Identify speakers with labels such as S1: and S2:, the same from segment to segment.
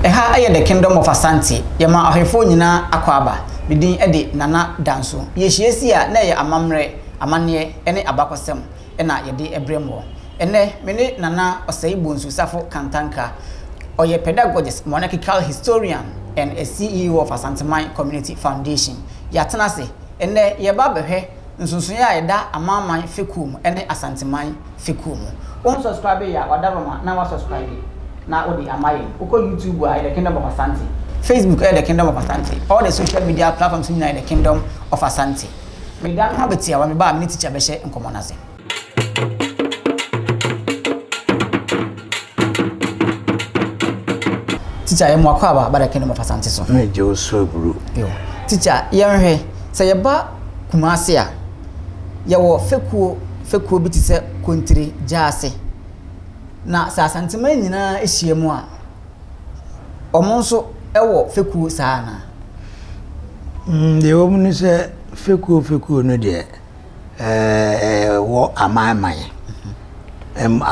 S1: Ɛha yɛ The Kingdom of Asante. Yɛma ahwɛfoɔ nyinaa akwaaba. Me din de Nana Danso. Yɛhyia si a, na ɛyɛ amammerɛ, amanneɛ ne abakɔsɛm na yɛde brɛ moɔ. Ɛnnɛ, me ne Nana Osei Bonsu Safo Kantanka. Ɔyɛ Pedagogist, Monarchical Historian and a CEO of Asanteman Community Foundation. Yɛatena ase. Ɛnnɛ, yɛreba abɛhwɛ. nsonsoeɛ a ɛda Amanman fekuo mu ne Asanteman fekuo mu. Wo nsɔskraibe yɛ a wada Roma na wasɔskraibe na wode ama yɛn. Wokɔ YouTube a ɛyɛ The Kingdom of Asante, Facebook ɛyɛ The Kingdom of Asante, all the social media platforms nyinaa yɛ The Kingdom of Asante. Meda no ho abɛtiawa, me ba a me ne Teacher bɛhyɛ nkɔmmɔ no ase. tikya yɛ mu akɔ aba abada kɛnɛ mu fa sante so. na gye osu aburu.
S2: yo tikya
S1: yɛnhwɛ sɛ yɛba kumase a yɛwɔ fekuo fekuo bi te sɛ kontiri gyaase na sɛ asantema nyinaa ahyia mu a wɔn nso wɔ fekuo saa anaa.
S2: Mm, deɛ wɔn ni sɛ fekuo fekuo no deɛ. wɔ amanman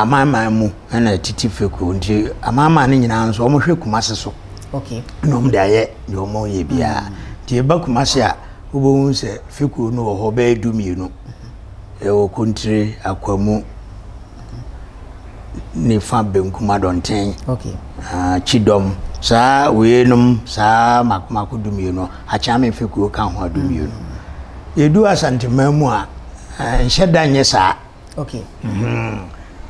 S2: amanman mu na ɛtete fekuo nti amanman no nyinaa nso wɔhwɛ kumase so na wɔn
S1: de ayɛ
S2: deɛ wɔn yɛ biara nti ɛba kumase a wobɛhu sɛ fekuo no wɔ hɔ bɛyɛ du mmienu ɛwɔ kontire akwamu. nifa benkum adɔnten okay. uh,
S1: kyidɔm
S2: saa weinom saa mako mako dumienu akyame mfe kuo ka ho adumienu mm -hmm. yɛdu asanteman mu a uh, nhyɛ da nyɛ saa
S1: okay.
S2: mm -hmm.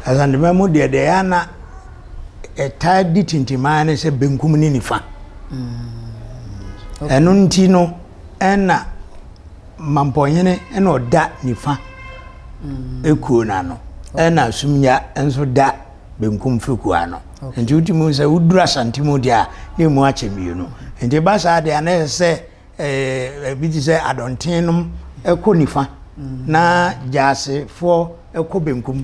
S2: asanteman mu deɛ deɛ yɛana ɛtaa di tintimaa ne sɛ benkum ne nifa mm. ɛno mm -hmm. okay. nti no ɛna Mampɔnhene na ɔda nifa mm. kuo no ano ɛna Sumnya nso da benkum firi kuo ano nti wotumi hu sɛ woduru Asante mu deɛ a na ɛmu akyɛ mmienu nti ba saa deɛ a na ɛsɛ sɛ eh, ebi te sɛ adɔnten nom ɛkɔ nifa mm. na gyaasefoɔ ɛkɔ benkum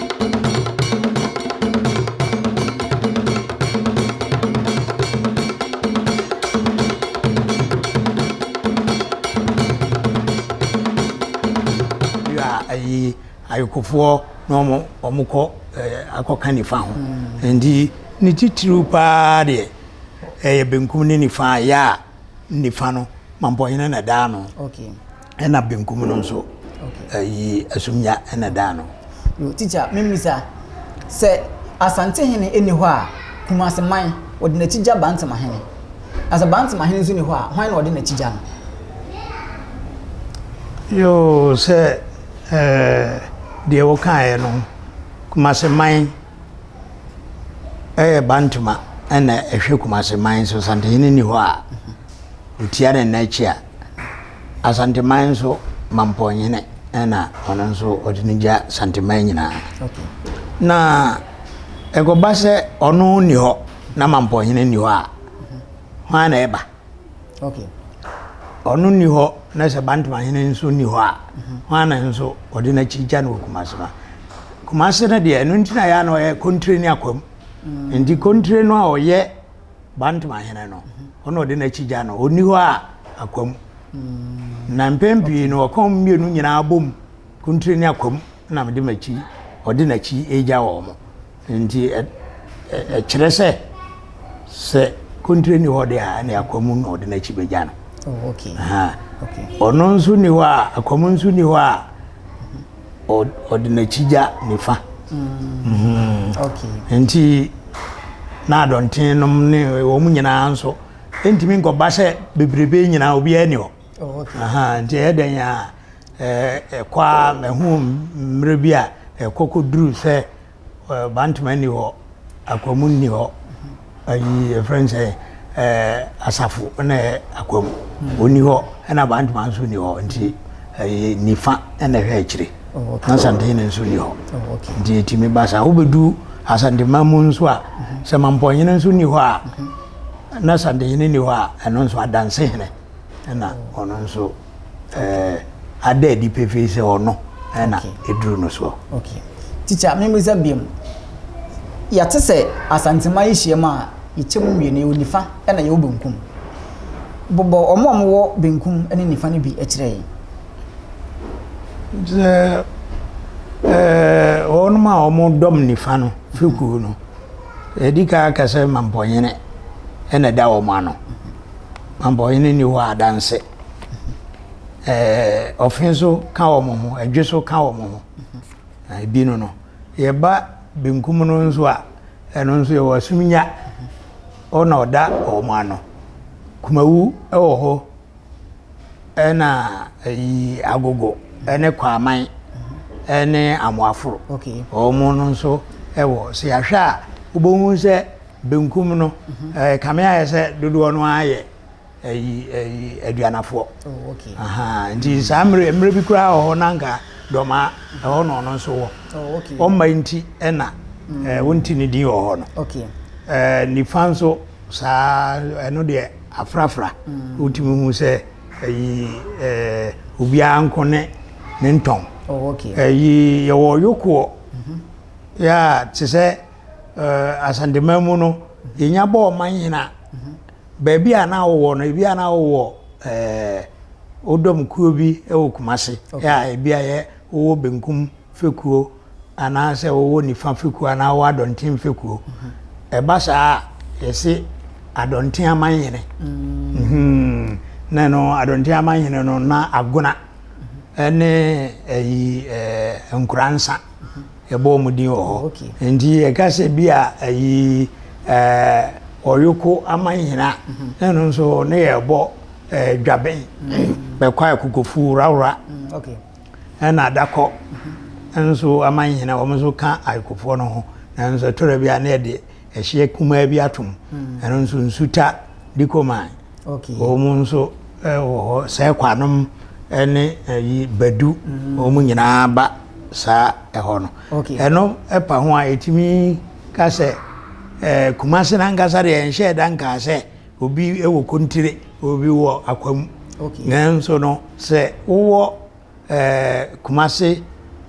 S2: ayi ayikofoɔ na wɔn wɔn kɔ ɛɛ eh, akɔka nifa ho mm. nti ne titiriw paa deɛ ɛyɛ benkum ne nifa yɛ a nifa no mampɔnyina na daa no. Okay. Ɛna
S1: benkum
S2: no nso, ɛyi asumnya na ɛda ano. Teacher, me
S1: mmisa, sɛ Asantehene nni hɔ a, Kumasi man, wɔde n'akyi gya Bantemahene. Na sɛ Bantemahene nso nni hɔ a, hwan na wɔde n'akyi gya no? Yoo, sɛ
S2: ɛɛ, deɛ wokaeɛ no, Kumasi man ɛyɛ Bantema ɛna ɛhwɛ Kumasi man, sɛ Asantehene nni hɔ a, ɔtia ne nna akyi a. Asanteman nso Mampɔnhene na ɔno nso ɔde no gya Santeman nyinaa. Na ɛkɔba sɛ ɔno nni hɔ na Mampɔnhene nni hɔ a, hwan na ɛba? Ɔno nni hɔ na sɛ Bantamahene nso nni hɔ a, hwan na nso ɔde n'akyi gya no wɔ Kumase no? Kumase no deɛ, ɛno nti na yɛ a na ɔyɛ kontire ne akwam. Nti kontire no a ɔyɛ Bantmahene no, ɔna ɔde n'akyi gya no, ɔnni hɔ a akwam. Mm. Na mpɛn pii no ɔka wɔn mmienu nyinaa bom, Kuntire ne akwam na mede m'akyi, ɔde n'akyi agya wɔn. Nti ɛkyerɛ sɛ sɛ Kuntire ni hɔ de a ne akwam na ɔde n'akyi bɛgya no. Oh,
S1: ɔno nso ni
S2: hɔ a, akwam nso ni hɔ a ɔde n'akyi gya nifa mm-hmm.
S1: nti
S2: na adɔnten nom ne wɔn nyinaa nso ntumi nkɔba sɛ bebrebe nyinaa obiara ni hɔ oh, nti ɛyɛ
S1: dɛn a
S2: ɛkɔ a ɛho mmerɛ bi a ɛkɔ kɔduru sɛ Bantama nni hɔ, Akwamu nni hɔ, ayi yɛfrɛ no sɛ asafo na ɛyɛ Akwamu ɔnni hɔ ɛna Bantama nso nni hɔ nti ɛyɛ nifa ɛna ɛhwɛ akyire oh, na Asantehene nso nni hɔ oh, nti ɛtumi ba
S1: saa
S2: wobɛdu Asantema mu nso a sɛ Mampɔnyene nso nni hɔ a na Asantehene nni hɔ a ɛno nso Adansehene ɛna ɔno nso ada adi pefee sɛ ɔno na ɛduru no soɔ. Okay. Teacher,
S1: membisa biam. Yɛte sɛ Asantema yi hyiam a yɛkyɛ mu mmienu, yɛwɔ nifa na yɛwɔ benkum. Bobɔ wɔn a wɔwɔ benkum ne nifa no bi kyerɛ yɛn. Sɛ
S2: ɛɛ wɔn a wɔdɔm nifa no firi kuo no, ɛdi kan aka sɛ mampɔnyene na ɛda wɔn ano. Mampɔnyene ni hɔ adanse. ɛɛ ɔfe nso ka wɔn ho ɛdwe so ka wɔn ho na ebi no no yɛba benkum no nso a ɛno nso yɛwɔ asumnya ɔna ɔda wɔn ano kumawu ɛwɔ hɔ ɛna ɛyi agogo ɛne kwaman ɛne amoaforo wɔn
S1: no nso
S2: ɛwɔ sɛ yɛahwɛ a wobɛhu sɛ benkum no ɛɛ kame ayɛ sɛ dodoɔ no ara yɛ. ɛyi ɛyi aduanafoɔ oh, okay. ahaa
S1: nti mm. saa mmerɛ
S2: mmerɛ bi koraa wɔ hɔ na nka dɔmaa ɛhɔ na ɔno nso wɔ oh, okay. ɔma nti ɛna mm. ɛɛ wonti ne din wɔ hɔ no okay. ɛɛ
S1: nifa
S2: nso saa ɛno deɛ afrafra mm. wotumi hu sɛ ɛyi ɛɛ obiara nko ne ne ntɔn oh, okay. ɛyi
S1: yɛwɔ
S2: yokoɔ mm -hmm. yɛ a te sɛ ɛɛ asantema mu no yɛnya bɔɔ ma nyina. Mm -hmm. baabi a na wowɔ no ebi a na wowɔ ɛɛ wodɔm kuo bi wɔ Kumasi a ebi a yɛ wowɔ benkum fekuo anaasɛ wowɔ nifa fekuo anaa wowɔ adɔnten fekuo ɛba saa a yɛsi adɔnten amanhene mm-hmm. na no adɔnten amanhene no na agona ɛne ɛyi ɛɛ nkuransa. Yɛbɔ wɔn din wɔ hɔ. Nti yɛka sɛ bi a ayi eh, ɔyoko amanhena mhm. ɛno nso ne yɛbɔ eh, dwabɛn mhm. bɛkɔ akokofu rawra
S1: mhm. ɛna adakɔ
S2: nso amanhena wɔn nso ka akokofoɔ no ho nanso ɛtɔrɔ bi a ne yɛde ɛhyeɛ kumaa bi atom ɛno nso nsuta dikoman Wɔn mu
S1: nso
S2: wɔ hɔ, Sɛɛkwanom ne ayi Badu, wɔn nyinaa ba saa ɛhɔ no. Ɛno pa ho a yɛtumi ka sɛ ɛɛ Kumasi n'ankasa deɛ nhyɛ da nkaa sɛ obi wɔ Kontire, obi wɔ Akwamu. Nanso no sɛ wowɔ Kumase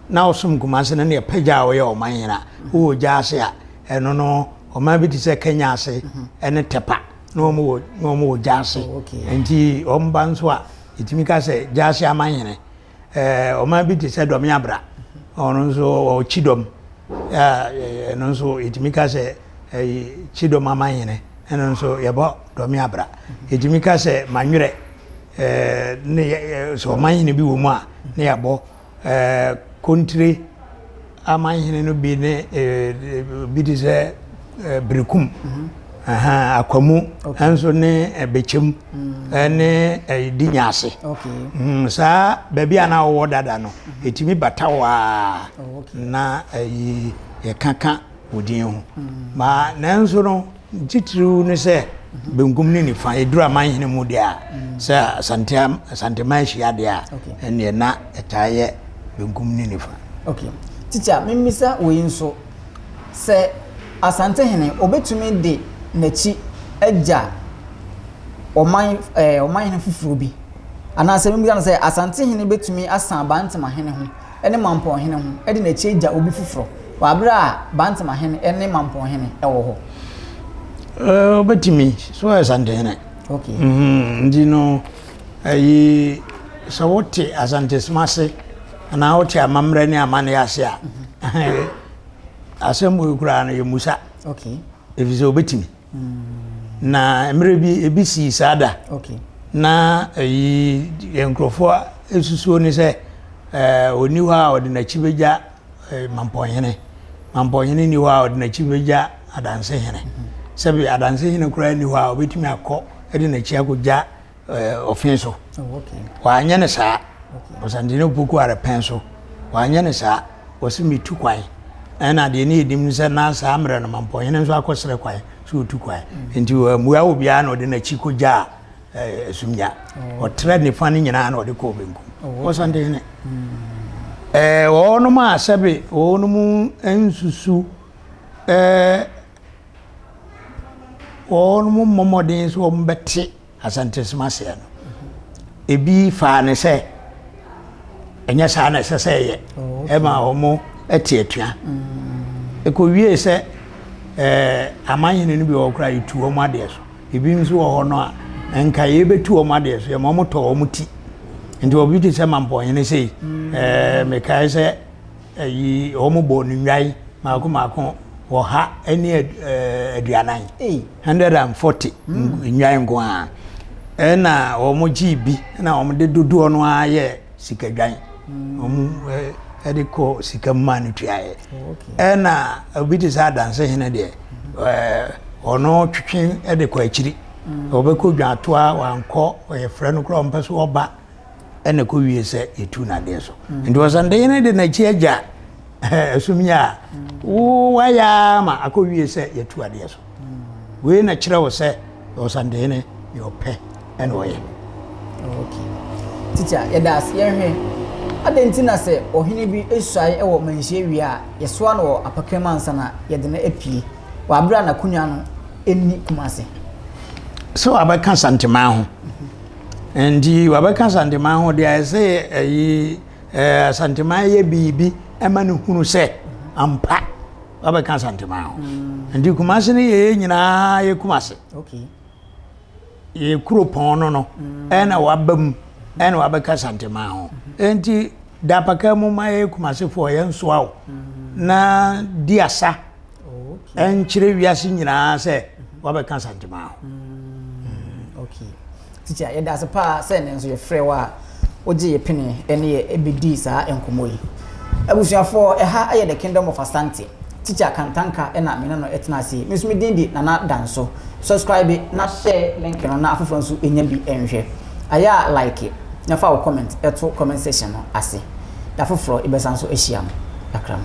S2: na ɔsom Kumase no ne ɛpɛ gya a ɔyɛ ɔman nyina wowɔ gya ase a ɛno no ɔman bi te sɛ Kenya ase ɛne Tepa na wɔn wɔ na wɔn wɔ gya ase oh, nti wɔn ba nso a yɛtumi ka sɛ gya ase aman nyina ɛɛ ɔman bi te sɛ Dɔme Abra ɔno nso wɔ Kyidɔm ɛɛ ɛno nso yɛtumi ka sɛ ɛyi Kyidɔm aman nyina ɛno nso yɛbɔ Dɔme Abra yɛtumi ka sɛ Manwerɛ. ne sɛ ɔmanhene bi wɔ mu a, na yɛabɔ kontire amanhene no bi ne bi te sɛ Berekum, Akwamu nso ne Bekyem ne Dinyase. Hmm, saa baabi a na wɔwɔ dada no, ɛtumi bata hɔ a na yɛkaka wo din ho. Nanso no, Titiriw ne sɛ benkum ne nifa, eduru amanhene mu deɛ a, sɛ Asante Asanteman hyia deɛ a, ɛnneɛ na ɛtaa yɛ benkum ne nifa. Ok. Tikya,
S1: memmisa wei nso, sɛ Asantehene ɔbɛtumi de n'akyi agya ɔman ɛɛ ɔmanhene foforɔ bi? Anaasɛ memmisa no sɛ, Asantehene bɛtumi asan Abantemahene ho? ne Mampɔnhene ho de n'akyire gya obi foforɔ wɔ aberɛ a Bantamahene ne Mampɔnhene wɔ hɔ?
S2: Ɔbɛtumi, so ayɛ Santehene. Okay. Mm-hmm.
S1: Nti no,
S2: ayi, sɛ wote Asantesom ase anaa wote amammerɛ ne amanneɛ ase a, mm-hmm. asɛm wei koraa no yɛmmusa. Okay. Ɛfiri
S1: sɛ ɔbɛtumi.
S2: Mm. Na mmerɛ bi ebi sii saa da. Okay. Na
S1: eyi
S2: yɛn nkurɔfoɔ esusuo ne sɛ ɛɛ eh, oni hɔ a ɔde n'akyi bɛgya eh, mampɔnhene. Mampɔnhene ni hɔ a ɔde n'akyi bɛgya adansehene. Mm-hmm. Sɛbi adansehene koraa ni hɔ a ɔbɛtumi akɔ ɛde n'akyi akɔgya ɔfin so
S1: wanyɛ ne saa
S2: ɔsantene opoku are pɛn so wanyɛ ne saa wɔsi mi tu kwan ɛna deɛ ne yɛnim sɛ na saa mmerɛ no mampɔhene nso akɔsrɛ kwan sɛ ɔtu kwan mm. nti mmua wɔ biara na ɔde n'akyi kɔgyaa asumnya mm. ɔtrɛ nifa no nyinaa na ɔde kɔɔ benkum oh, ɔsantene wɔnom mm. a sɛbe wɔnom nsusu wɔmmɔ mmɔden sɛ wɔbɛte asɛntensɛm aseɛ no ebi faa ne sɛ ɛnyɛ saa na ɛsɛ sɛ ɛyɛ oh, ɛma wɔn ɛte atua mm. ɛkɔwie sɛ ɛɛ amanyini no bi wɔ koraa yɛtu wɔn adeɛ so ebi nso wɔ hɔ no a nka yɛbɛtu wɔn adeɛ so yɛma wɔn tɔ wɔn ti nti obi te sɛ mampɔnyini sei mm. ɛɛ mekae sɛ. Ɛyi wɔn bɔ no nnwae mako mako ɔha ne aduanan hundred and forty nnwae nko ara ɛna wɔn gye bi ɛna wɔn de dodoɔ no ara yɛ sikadwan wɔn ɛde kɔ sika mu maa no tuaeɛ ɛna obi te sɛ adanse hene deɛ ɛɛ ɔno twetwe ɛde kɔ akyiri ɔbɛkɔ dwantoa wankɔ ɔyɛ frɛ no koraa ɔmpɛ so ɔba. ɛna ɛkɔ wie sɛ yɛtu no adeɛ so nti ɔsɛ de yɛne de n'akyi agya ɛsom yɛ a wo wayɛ ma akɔ wie sɛ yɛtu adeɛ so wei na kyerɛ wo sɛ ɔsandehene yɛ ɔpɛ ɛna ɔyɛ
S1: tikya yɛda ase yɛhwɛ adɛn nti na sɛ ɔhene bi asuae wɔ manhyia wie a yɛsoa no wɔ apakram ansa na yɛde no apue wɔ aberɛ a n'akonnwa no ɛnni kuma ase sɛ
S2: wabɛka santemaa ho Nti wabɛka Asanteman ho deɛ ayɛ sɛ ayi ɛɛ Asanteman yɛ biribi ɛma no hunu sɛ ampa wabɛka Asanteman ho. Mm. Nti Kumase no yɛyɛ nyinaa yɛ Kumase. Okay. Yɛ kuro pɔn no no mm. ɛna waba mu ɛna wabɛka Asanteman ho. Mm-hmm. Nti dapaka mu ma yɛ Kumasefoɔ yɛn nsoa o mm. na di asa. ɛnkyerɛ wiase nyinaa sɛ wabɛka asantema ho mm,
S1: okay tikya yɛda ase paa sɛ ne nso yɛfrɛ wo a wogye yɛ pene ɛne yɛ ɛbɛdii saa nkɔmmɔ yi abusuafoɔ ɛha ɛyɛ the kingdom of asante tikya kantanka ɛna mene no ɛtena ase me nso medin de nana danso subscribe na share link no na afoforɔ nso ɛnya bi ɛnhwɛ Ayɛ a like na fa wo comment to comment section no ase. Da foforɔ yɛbɛsan so ahyiam. Akram.